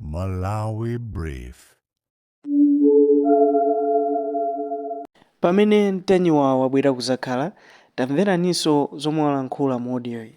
Malawi Brief. Pamene Ntanyiwa wabwera kuzakhala, tamveraninso zomwe walankhula mu audio iyi.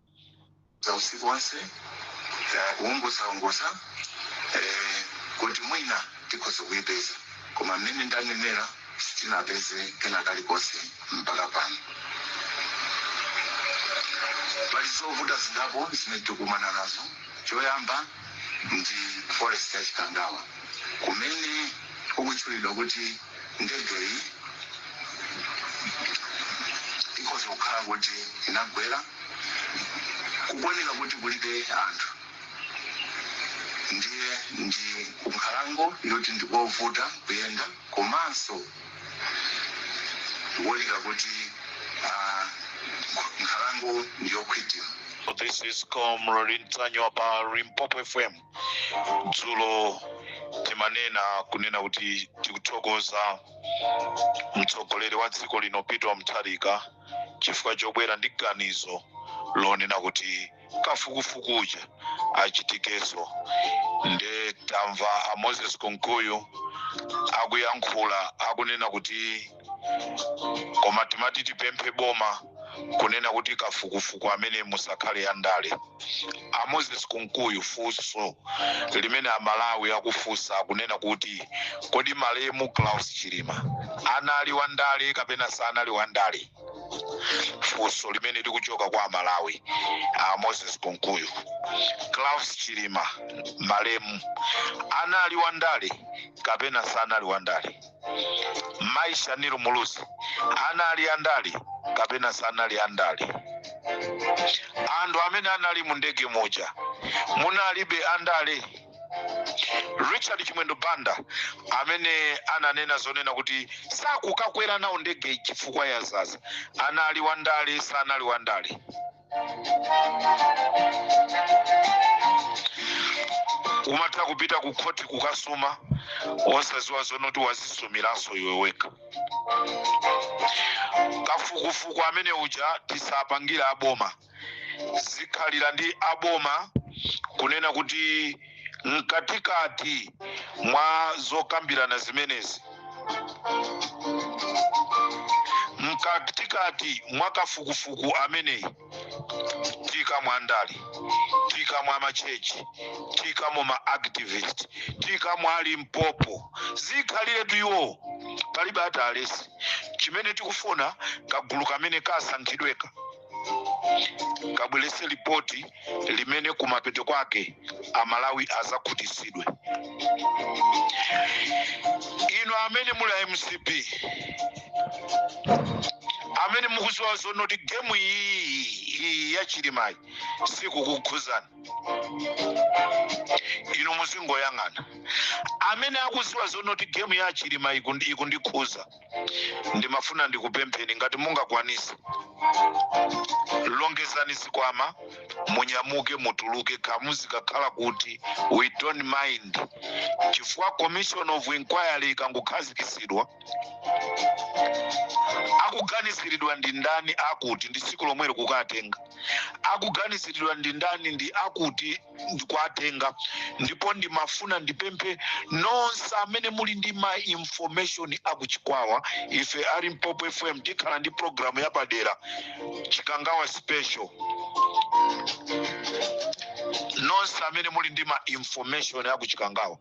za usiku wonse za kuunguzaunguza eh, kuti mwina tikhoza kuipeza koma mmene ndanenera sitinapeze kena kalikonse mpaka pano pali zovuta zingapo zimene tikukumana nazo choyamba ndi forest ya Chikangawa kumene kukutchulidwa kuti ndegeyi ikhoza kukhala kuti inagwera kukuoneka kuti kulibe anthu ndiye ndi kunkhalango yoti ndikovuta kuyenda komanso Zikuoneka kuti nkhalango ndi yokhwima. This is Comrade Ntanyiwa pa Limpopo FM. Dzulo timanena kunena kuti tikuthokoza mtsogoleri wa dziko lino Peter Mutharika chifukwa chobwera ndi ganizo lonena kuti kafukufuku uja achitikenso nde tamva a moses kunkuyu akuyankhula akunena kuti koma timati tipemphe boma kunena kuti kafukufuku ameneyu musakhale andale a moses kunkuyu funso limene amalawi akufunsa akunena kuti kodi malemu klaus chilima anali wa ndale kapena sanali wa ndale funso limene likuchoka kwa amalawi a moses kunkuyu klaus chilima malemu anali wandale kapena sanali wandale mai shanil muluzi anali andale kapena sanali andale anthu amene anali mu ndege muja munalibe andale richard chimwendo banda amene ananena zonena kuti sakukakwera nawo ndege chifukwa yadzadza anali wandale sanali wandale kumatha kupita ku khoti kukasuma osadziwa zonoti wadzisumiranso iwe wekha kafukufuku amene uja tisapangire aboma zikhalira ndi aboma kunena kuti mkatikati mwa zokambirana zimenezi mkatikati mwa kafukufuku ameneyi tikamwa a ndale tikamwa a machechi tikamwa ma activist tikamwa a limpopo zikhaliretu iwo palibe at a rest chimene tikufuna kagulu kamene kasankhidweka kabwerese lipoti limene kumapeto kwake amalawi azakhutitsidwe inu amene muli a mcp amene mukuziwa zonoti gemu iyi iyi ya chilimayi sikukukhuzani inu muzingoyang'ana amene akuziwa zonoti gemu ya chilima ikundi- ikundikhuza ndimafuna ndikupempheni ngati mungakwanise longezani zikwama munyamuke mutuluke kamuzu kakhala kuti we don't mind chifukwa commission of inquiry ikangokhazikitsidwa akuganiziridwa ndi ndani akuti ndi tsiku lomweli kukatenga akuganiziridwa ndi ndani ndi akuti kuwatenga ndipo ndimafuna ndipemphe nonse amene muli ndi ma information akuchikwawa ife a limpopo fm tikhala ndi programu yapadera chikangawa special nonse amene muli ndi ma information akuchikangawa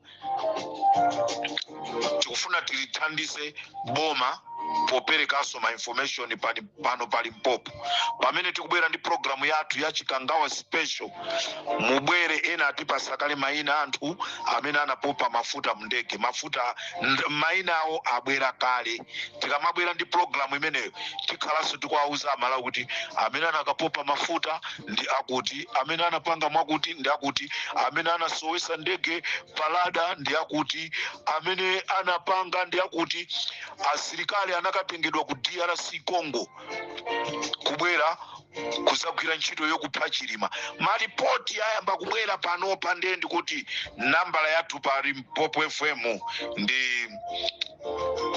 tikufuna tilithandise boma poperekanso ma information pani- pano pa limpopo pamene tikubwera ndi programu yathu ya chikangawa special mubwere ena atipasa kale maina a anthu amene anapopa mafuta mndege mafuta nd- maina awo abwera kale tikamabwera ndi programu imeneyo tikhalanso tikuwauza amalawi kuti amene anakapopa mafuta ndi akuti amene anapanga mwakuti ndi akuti amene anasowesa ndege pa radar ndi akuti amene anapanga ndi akuti asilikali anakatengedwa ku drc congo kubwera kuzagwira ntchito yokupha chilima malipoti ayamba kubwera panopa ndiye ndikuti nambala yathu pa limpopo fm ndi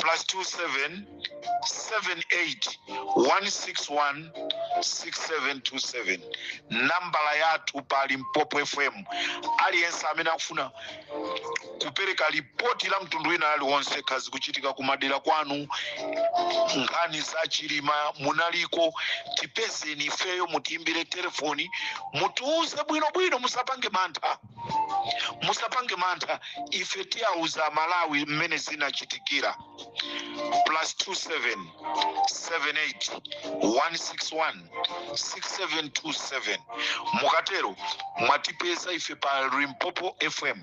plus 27 78 161 6727 nambala yathu pa limpopo fm aliyense amene akufuna kupereka lipoti la mtundu wina aliwonse kaya zikuchitika kumadera kwanu nkhani za chilima munaliko tipezeni ifeyo mutiimbire telefoni mutiuze bwinobwino musapange mantha musapange mantha ife tiyauza amalawi mmene zinachitikira plus 27 78 161 6727 mukatero mwatipeza ife pa limpopo fm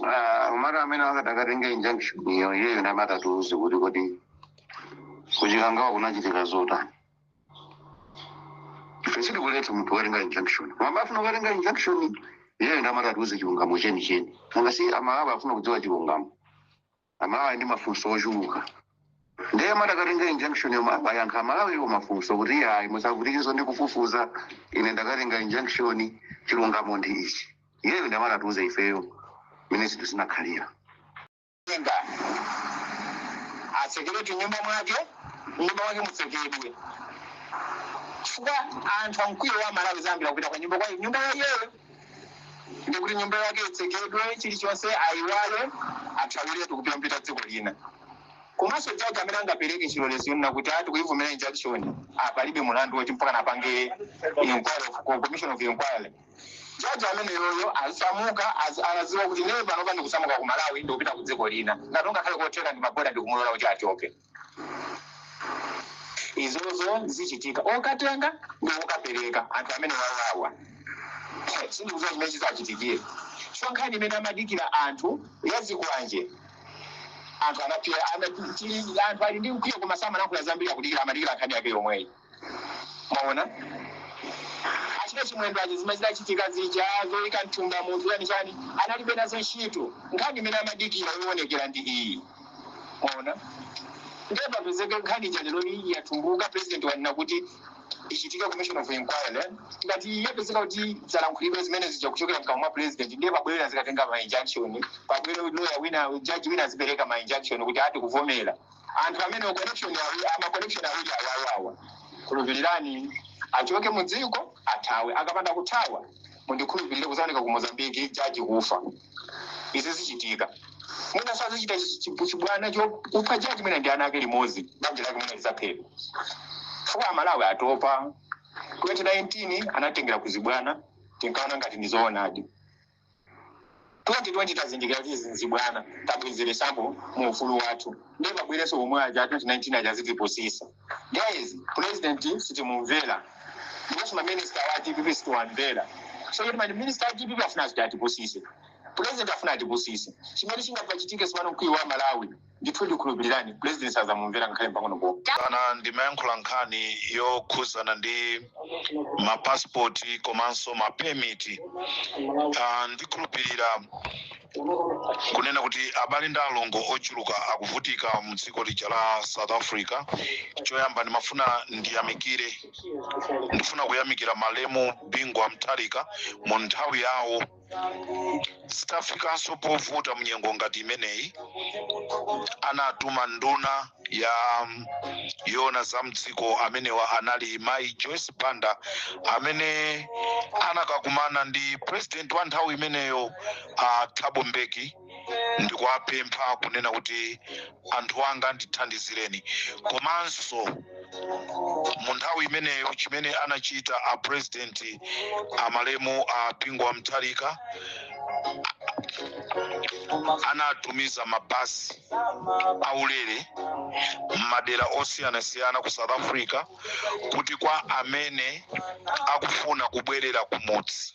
Ah, mara amene akatakatenge injunction iyo iyeyo ndi amatatiuze kuti kodi kuchikangawa kunachitika zotani ife sitikuletsa munthu watenga injunction mwina afuna kukatenga injunction iyeyo ndi amatatiuze chilungamo cheni cheni nanga si amalawi afuna kudziwa chilungamo amalawi ndi mafunso ochuluka ndiye amatakatenge injunction yo ayankhe amalawi iwo mafunso kuti ayi musavutikizo ndi kufufuza ine ndakatenga injunction chilungamo ndi ichi iyeyo ndi amatatiuze ifeyo mmene zinthu zinakhalira Tenga atsekeretu nyumba mwake, nyumba mwake mutsekedwe, chifukwa anthu a mkwiyo aMalawi azayambira kupita kunyumba kwa nyumba ya iyeyo, ndi kuti nyumba yake itsekedwe, chilichonse ayiwale, athawiretu kupita apite dziko lina. Komanso jaji amene angapereke chilolezo chonena kuti ati kuivomera injunction palibe mulandu woti mpaka napange inquiry of commission of inquiry Judge ameneyoyo azisamuka azidziwa kuti ine panopa ndikusamuka ku Malawi ndikupita ku dziko lina ngati kungakhale kotheka ndi maboda ndikumulola kuti achoke izozo zichitika okatenga ndi okapereka anthu amenewawa sindikuziwa chimene chizachitikire chifukwa nkhani imene amadikira anthu ya zikwanje anthu anapirira ana- tili- anthu ali ndi mkwiyo koma samayankhula zambiri akudikira amadikira nkhani yake yomweyi mwaona a Richard Chimwendo aja zimachitikachitika zija zoyika mthumba munthu chani chani analibe nazo ntchito nkhani imene amadikira yoonekera ndi iyi mwaona ndiye papezeke nkhani ija lero iyi yatumbuka president wanena kuti ichitike commission of inquiry ngati yapezeka kuti zalankhulidwa zimene zija kuchokera mkamwa mwa president ndiye pabwere azikatenga ma injunction pabwere lawyer wina judge wina azipereka ma injunction kuti ati kuvomera anthu amene connection yawo ama connection awiri awawawa khulupirirani achoke mu dziko athawe akapanda kuthawa mundikhulupirire kuzaoneka ku mozambiki jaji kufa izi zichitika mwina sazachita chi- chi- chibwana chokupha jaji mwina ndi ana ake limodzi banja lake mwina lizaphedwa chifukwa amalawi atopa 2019 anatengera kuzibwana tinkaona ngati ndizoonadi 2020 tazindikira kuti n'zibwana tabwezeresa pamwamba ufulu wathu ndiye pabwerenso omwe aja 2019 aja azitipusisa guys president sitimumvera ndiponso maminista wa dpp sitiwamvera so kuti maminista wa dpp afuna kuti atipusise president afuna atipusise chimene chingapachitike sipano mkwiyo wa amalawi ndithu ndikhulupirirani president sazamumvera ngakhale mpang'ono pomwe ine ndimayankhula nkhani yokhuzana ndi mapasipoti komanso mapemiti Ah, ndikhulupirira kunena kuti abale ndi alongo ochuluka akuvutika mu dziko lija la south africa choyamba ndimafuna ndiyamikire ndifuna kuyamikira malemu bingu wa mutharika mu nthawi yawo zitafikanso povuta mnyengo ngati imeneyi anatuma nduna ya mm, yoona za mdziko amene anali mayi joyce banda amene anakakumana ndi president wa nthawi imeneyo uh, thabo mbeki ndikuwapempha kunena kuti anthu anga ndithandizireni komanso mu nthawi imeneyo chimene anachita a president amalemu a bingu wa mutharika anatumiza mabasi aulere m'madera osiyanasiyana ku south africa kuti kwa amene akufuna kubwerera kumudzi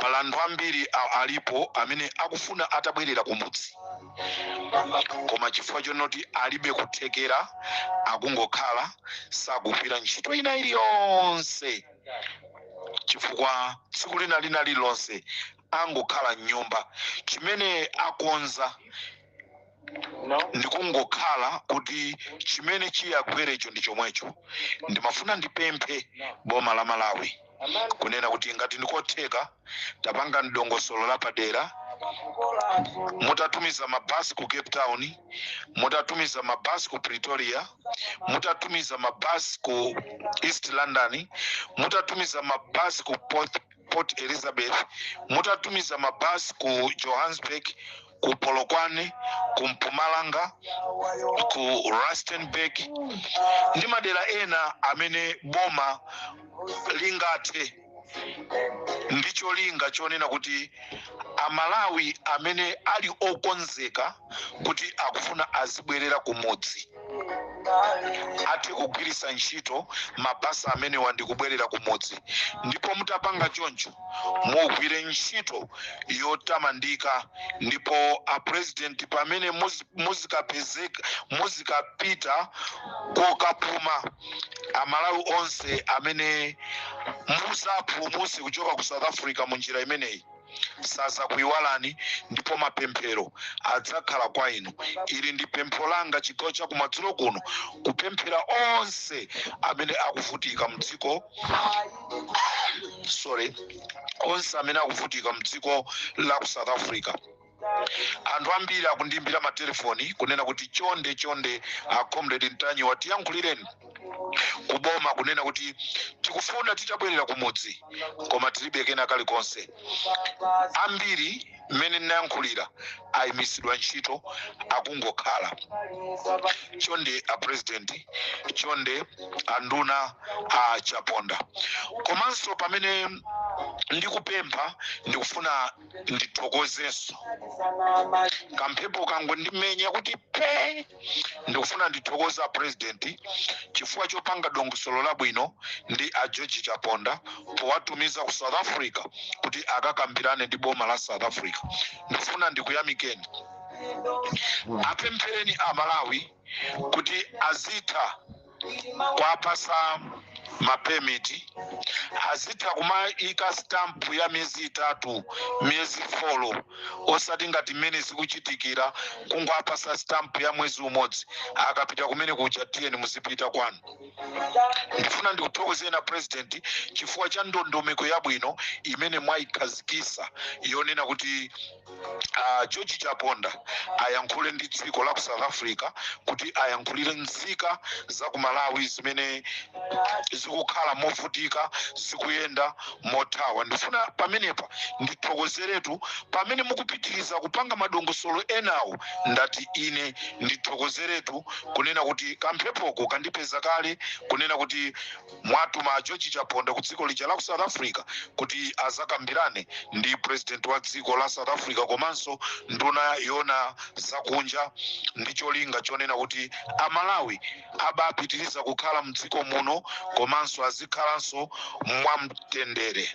Pali anthu ambiri a- alipo amene akufuna atabwerera kumudzi koma chifukwa chonoti alibe kuthekera akungokhala sakugwira ntchito ina iliyonse chifukwa tsiku lina lina lililonse akungokhala mnyumba chimene akonza ndikungokhala kuti chimene chiyagwerecho ndi chomwecho ndimafuna ndipemphe boma la malawi kunena kuti ngati ndikotheka mutapanga dongosolo lapadera mutatumiza mabasi ku cape town mutatumiza mabasi ku pretoria mutatumiza mabasi ku east london mutatumiza mabasi ku port elizabeth mutatumiza mabasi ku johannesburg ku polokwane ku mpumalanga ku rustenburg ndi madera ena amene boma lingathe ndi cholinga chonena kuti amalawi amene ali okonzeka kuti akufuna azibwerera kumudzi athe kugwiritsa ntchito mabasi amenewa ndi kubwerera kumudzi ndipo mutapanga choncho mugwire ntchito yotamandika ndipo apurezidenti pamene muzikapita kokapuma amalawi onse amene muzapulumutse kuchoka ku south africa mu njira imeneyi sazakuiwalani ndipo mapemphero adzakhala kwa inu ili ndi pempho langa chigawo cha kumadzulo kuno kupempherera onse amene akuvutika mdziko sorry onse amene akuvutika mdziko la ku south africa anthu ambiri akundiimbira matelefoni kunena kuti chonde chonde a comrade ntanyiwa tiyankhulireni kuboma kunena kuti tikufuna titabwerera kumudzi koma tilibe kena kalikonse ambiri mmene ndinayankhulira ayimitsidwa ntchito akungokhala chonde a president chonde anduna a chaponda komanso pamene ndikupempha ndikufuna ndithokozenso kamphepo kangondimenya kuti pe ndikufuna ndithokoze a president chifukwa chopanga dongosolo labwino ndi a george chaponda powatumiza ku south africa kuti akakambirane ndi boma la south africa ndikufuna ndikuyamikeni apemphereni a malawi kuti azitha kwapasa mapemiti azitha kumaika stamp ya miyezi itatu miyezi folo osati ngati mmene zikuchitikira kungowapasa stamp ya mwezi umodzi akapita kumene kuja tiyeni muzipita kwanu ndifuna ndikuthokozeni a president chifukwa cha ndondomeko yabwino imene mwayikhazikisa yonena kuti a george chaponda ayankhule ndi dziko la ku south africa kuti ayankhulire nzika za ku malawi zimene zikukhala movutika zikuyenda mothawa ndifuna pamenepa ndithokozeretu pamene mukupitiriza kupanga madongosolo enawo ndati ine ndithokozeretu kunena kuti kamphepoko kandipeza kale kunena kuti mwatuma a George Chaponda ku dziko lija la ku South Africa kuti azakambirane ndi president wa dziko la South Africa komanso nduna yona zakunja ndi cholinga chonena kuti amalawi abapitiriza kukhala mdziko muno komanso azikhalanso mwamtendere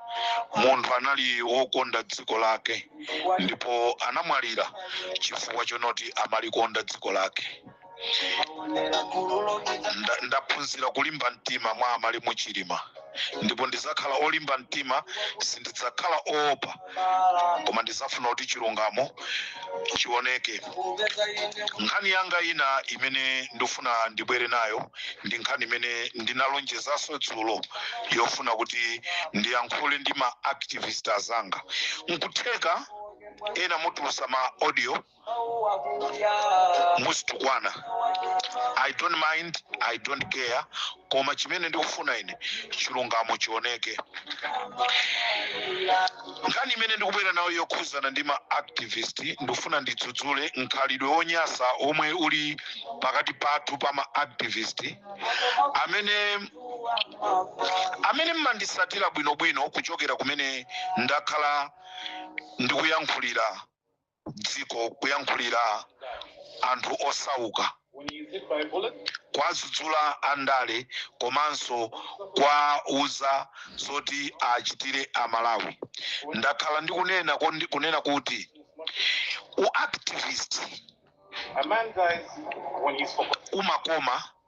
munthu anali wokonda dziko lake ndipo anamwalira chifukwa chonoti amalikonda dziko lake ndaphunzira kulimba mtima mwa amalimu chilima ndipo ndizakhala olimba mtima sindidzakhala oopa koma ndizafuna kuti chilungamo chioneke nkhani yanga ina imene ndifuna ndibwere nayo ndi nkhani imene ndinalonjezanso dzulo yofuna kuti ndiyankhule ndi ma activist azanga nkutheka ena mutulusa ma audio muzitukwana i don't mind i don't care koma chimene ndikufuna ine chilungamo chioneke Nkhani imene ndikubwera nayo yokhuzana ndi ma activist ndifuna ndidzudzule mkhalidwe wonyasa omwe uli pakati pathu pa ma activist amene amene mmandisatira bwinobwino kuchokera kumene ndakhala ndikuyankhulira dziko kuyankhulira anthu osauka kuwadzudzula andale komanso kuwauza zoti achitire amalawi ndakhala ndikunena kondi- kunena kuti u activist umakoma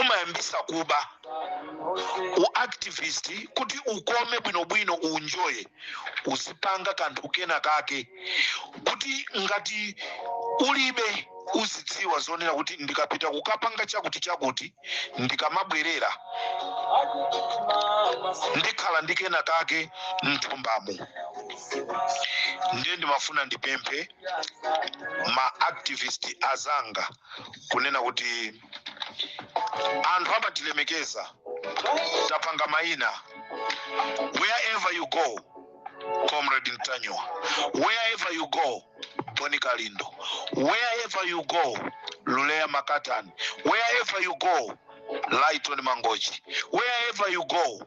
umayambisa kuba u activist kuti ukome bwinobwino unjoye uzipanga kanthu kena kake kuti ngati ulibe uzidziwa zonena kuti ndikapita kukapanga chakuti chakuti ndikamabwerera ndikhala ndi kena kake mthumbamo ndiye ndimafuna ndipemphe ma activist azanga kunena kuti anthu amatilemekeza tapanga maina wherever you go comrade mtanyiwa wherever you go boni kalindo wherever you go luleya makatani wherever you go lighton mangochi wherever you go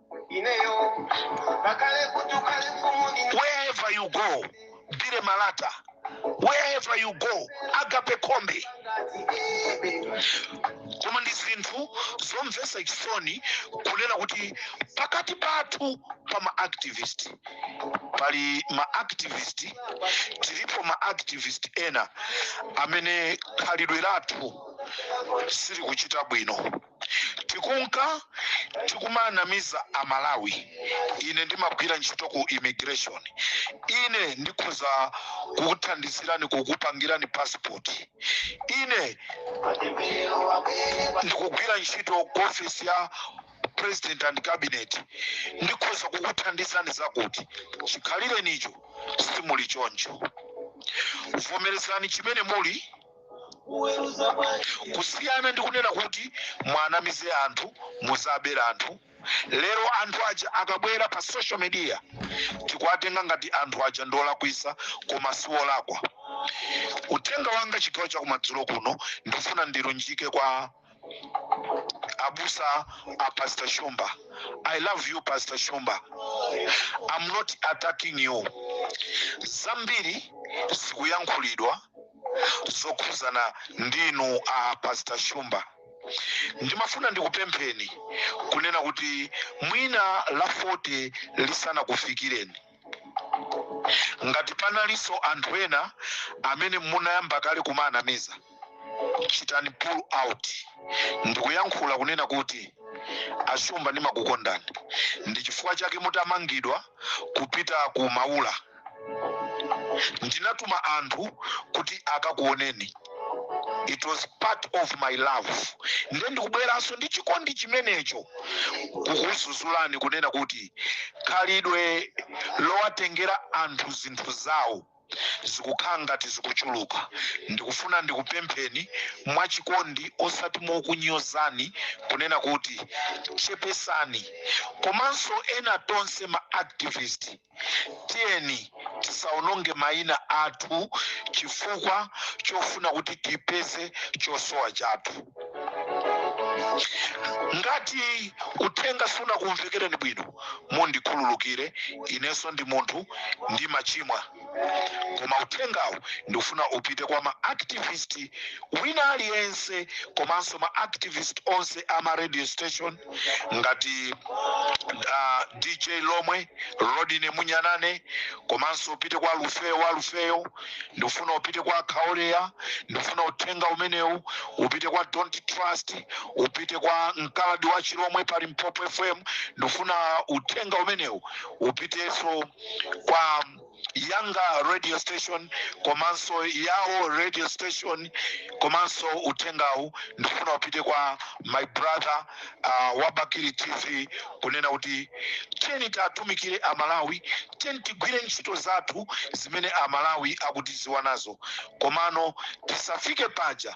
wherever you go dire malata wherever you go agape khombe koma ndi zinthu zomvetsa chisoni kunena kuti pakati pathu pa maactivist pali maactivist tilipo maactivist ena amene khalidwe lathu silikuchita bwino tikunka tikumanamiza a malawi ine ndimagwira ntchito ku immigration ine ndikhoza kukuthandizirani kukupangirani passport ine ndikugwira ntchito ku office ya president and cabinet ndikhoza kukuthandizani zakuti chikhalirenicho simuli choncho vomerezani chimene muli kusiyana ndi kunena kuti mwanamize anthu muzabere anthu lero anthu aja akabwera pa social media tikuwatenga ngati anthu aja ndiolakwisa koma siwolakwa uthenga wanga chigawo chakumadzulo kuno ndifuna ndilunjike kwa abusa a pastor shumba i love you pastor shumba i'm not attacking you zambiri zikuyankhulidwa zokhuzana ndinu a pastor shumba ndimafuna ndikupempheni kunena kuti mwina la 40 lisanakufikireni Ngati panalinso anthu ena amene munayamba kale kumaanamiza, chitani pull out ndikuyankhula kunena kuti, A Shumba ndimakukondani, ndi chifukwa chake mutamangidwa kupita ku Maula ndinatuma anthu kuti akakuoneni. it was part of my love nde ndikubweranso ndi chikondi chimenecho kukuzuzulani kunena kuti khalidwe lowatengera anthu zinthu zawo zikukhala ngati zikuchuluka ndikufuna ndikupempheni mwachikondi osati mokunyozani kunena kuti chepesani komanso ena tonse ma activist Tiyeni tisawononge mayina athu chifukwa chofuna kuti tipeze chosowa chathu. Ngati uthenga sunakumvekereni bwino, mundikhululukire. Inenso ndi munthu, ndimachimwa. Koma uthengawu ndikufuna upite kwa ma activist wina aliyense komanso ma activist onse a ma radio station, ngati uh, dj lomwe rodine munyanane komanso upite kwa lufeyo wa lufeyo ndikufuna upite kwa khaoleya ndikufuna uthenga umenewu upite kwa don't trust upite kwa mkaladi wa chilomwe pa limpopo fm ndikufuna uthenga umenewu upiteso kwa yanga radio station komanso yawo radio station komanso uthengawu ndifuna upite kwa my brother uh, wa bakili tv kunena kuti tiyeni tiatumikire amalawi tiyeni tigwire ntchito zathu zimene amalawi akutiziwa nazo komano tisafike paja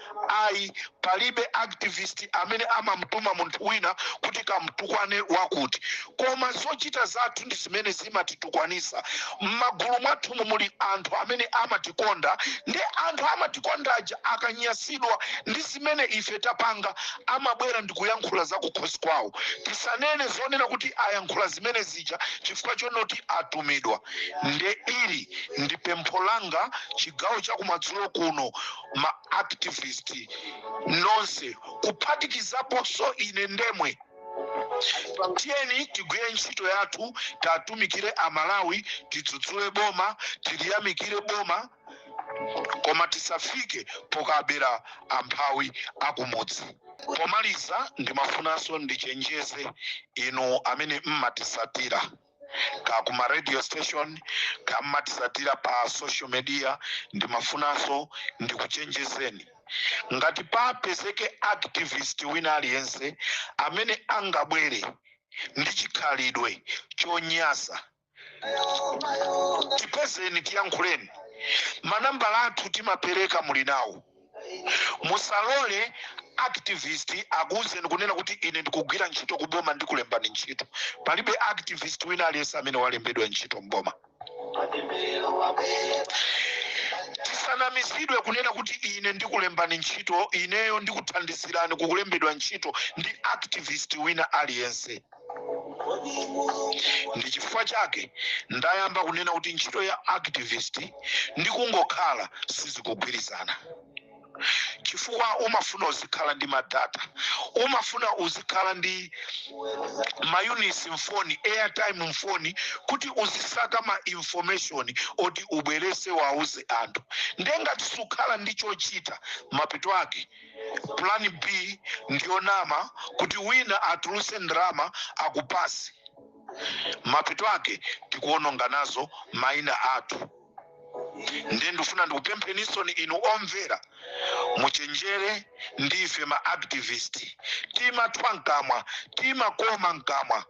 ayi palibe activist amene amamtuma munthu wina kuti kamtukwane wakuti koma zochita zathu ndi zimene zimatitukwanisa m'magulu mwathumu muli anthu amene amatikonda ndi anthu amatikonda aja akanyasidwa ndi zimene ife tapanga amabwera ndikuyankhula za kukhosi kwawo tisanene zonena kuti ayankhula zimene zija chifukwa chonoti atumidwa nde ili ndi pempho langa chigawo chakumadzulo kuno ma activist nonse kuphatikizaponso ine ndemwe tiyeni tigwire ntchito yathu tiatumikire amalawi tidzudzule boma tiliyamikire boma koma tisafike pokabera amphawi akumudzi pomaliza ndimafunanso ndichenjeze inu amene mmatisatira ka kuma radio station ka mmatisatira pa social media ndimafunanso ndikuchenjezeni ngati papezeke activist wina aliyense amene angabwere ndi chikhalidwe chonyasa tipezeni tiyankhuleni manambala athu timapereka muli nawo musalole activist akuuzeni kunena kuti ine ndikugwira ntchito ku boma ndikulembani ntchito palibe activist wina aliyense amene walembedwa ntchito mboma tisanamizidwe kunena kuti ine ndikulembani ntchito ineyo ndikuthandizirani kukulembedwa ntchito ndi activist wina aliyense ndi chifukwa chake ndayamba kunena kuti ntchito ya activist ndi kungokhala sizikugwirizana chifukwa umafuna uzikhala ndi madata umafuna uzikhala ndi mayunisi mfoni airtime mfoni kuti uzisaka ma information oti ubwerese wauze anthu nde ngati sukhala ndi chochita mapeto ake Plan B ndiyo nama kuti wina atuluse ndalama akupase mapeto ake tikuononga nazo maina athu ndiye ndikufuna ndikupemphenisoni inu omvera muchenjere ndife ma activist timathwa mkamwa timakoma mkamwa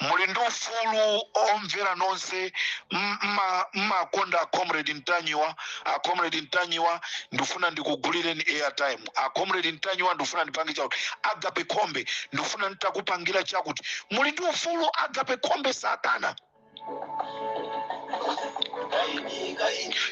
muli ndi ufulu omvera nonse m- mma- mmakonda a comrade ntanyiwa a comrade ntanyiwa ndifuna ndikugulireni airtime a comrade ntanyiwa ndifuna ndipange chakuti agape khombe ndifuna nditakupangira chakuti muli ndi ufulu agape khombe satana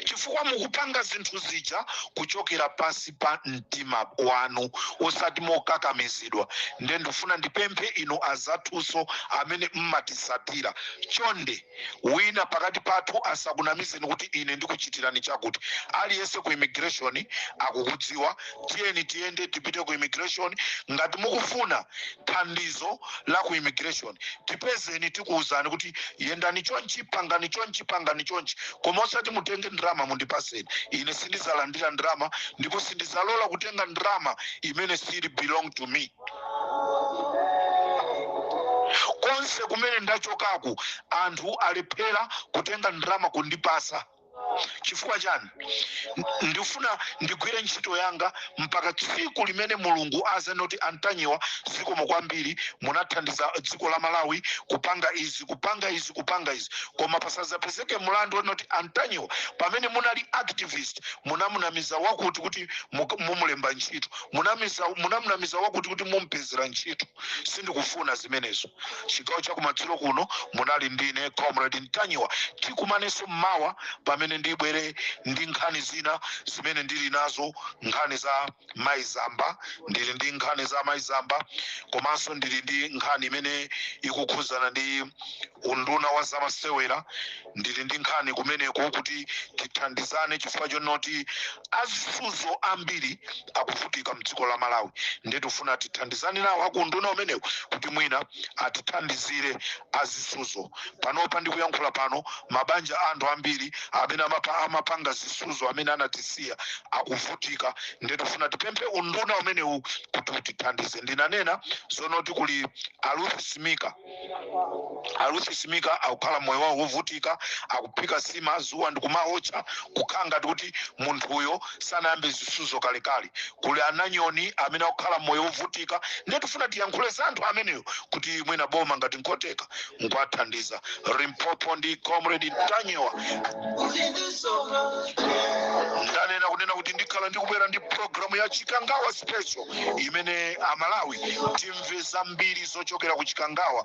chifukwa mukupanga zinthu zija kuchokera pansi pa mtima wanu osati mokakamizidwa nde ndifuna ndipemphe inu azathunso amene mmatisatira chonde wina pakati pathu asakunamizeni kuti ine ndikuchitirani chakuti aliyense ku immigration akukudziwa tiyeni tiyende tipite ku immigration ngati mukufuna thandizo la ku immigration tipezeni tikuwuzani kuti yendani chonchi pangani chonchi pangani chonchi koma osati mutenge ndalama mundipaseni ine sindizalandira ndalama ndipo sindizalola kutenga ndalama imene siili belong to me konse kumene ndachokaku anthu alephera kutenga ndalama kundipasa chifukwa chani ndifuna ndigwire ntchito yanga mpaka tsiku limene mulungu azanoti antanyiwa zikomo kwambiri munathandiza dziko la malawi kupanga izi kupanga izi kupanga izi koma pasazapezeke mlandu onoti antanyiwa pamene munali activist munamunamiza wakuti kuti mumulemba ntchito munamunamiza wakuti kuti mumpezera ntchito sindikufuna zimenezo chigawo chakumadzulo kuno munali ndine comrade ntanyiwa tikumanenso mmawa pamene ndibwere ndi nkhani zina zimene ndili nazo nkhani za maizamba ndili ndi nkhani za maizamba komanso ndili ndi nkhani imene ikukhudzana ndi unduna wa zamasewera ndili ndi nkhani kumeneko kuti tithandizane chifukwa chonoti azisuzo ambiri akuvutika mdziko la malawi ndiye tifuna tithandizane nawo aku unduna umenewu kuti mwina atithandizire azisuzo panopa ndikuyankhula pano mabanja a anthu ambiri amene amapa, amapanga zisuzo amene anatisiya akuvutika ndiye tifuna tipemphe unduna umenewu kuti utithandize ndinanena zonoti kuli aluthi simika aluthi simika akukhala moyo wawo wovutika akuphika sima zuwa ndikumaotcha kukhala ngati kuti munthuyo sanayambe zisuzo kalekale kuli ananyoni amene akukhala moyo wovutika ndiye tifuna tiyankhule za anthu ameneyo kuti mwina boma ngati nkotheka nkwathandiza limpopo ndi comrade ntanyiwa ndanena kunena kuti ndikhala ndikubwera ndi programu ya chikangawa special imene amalawi timve zambiri zochokera ku chikangawa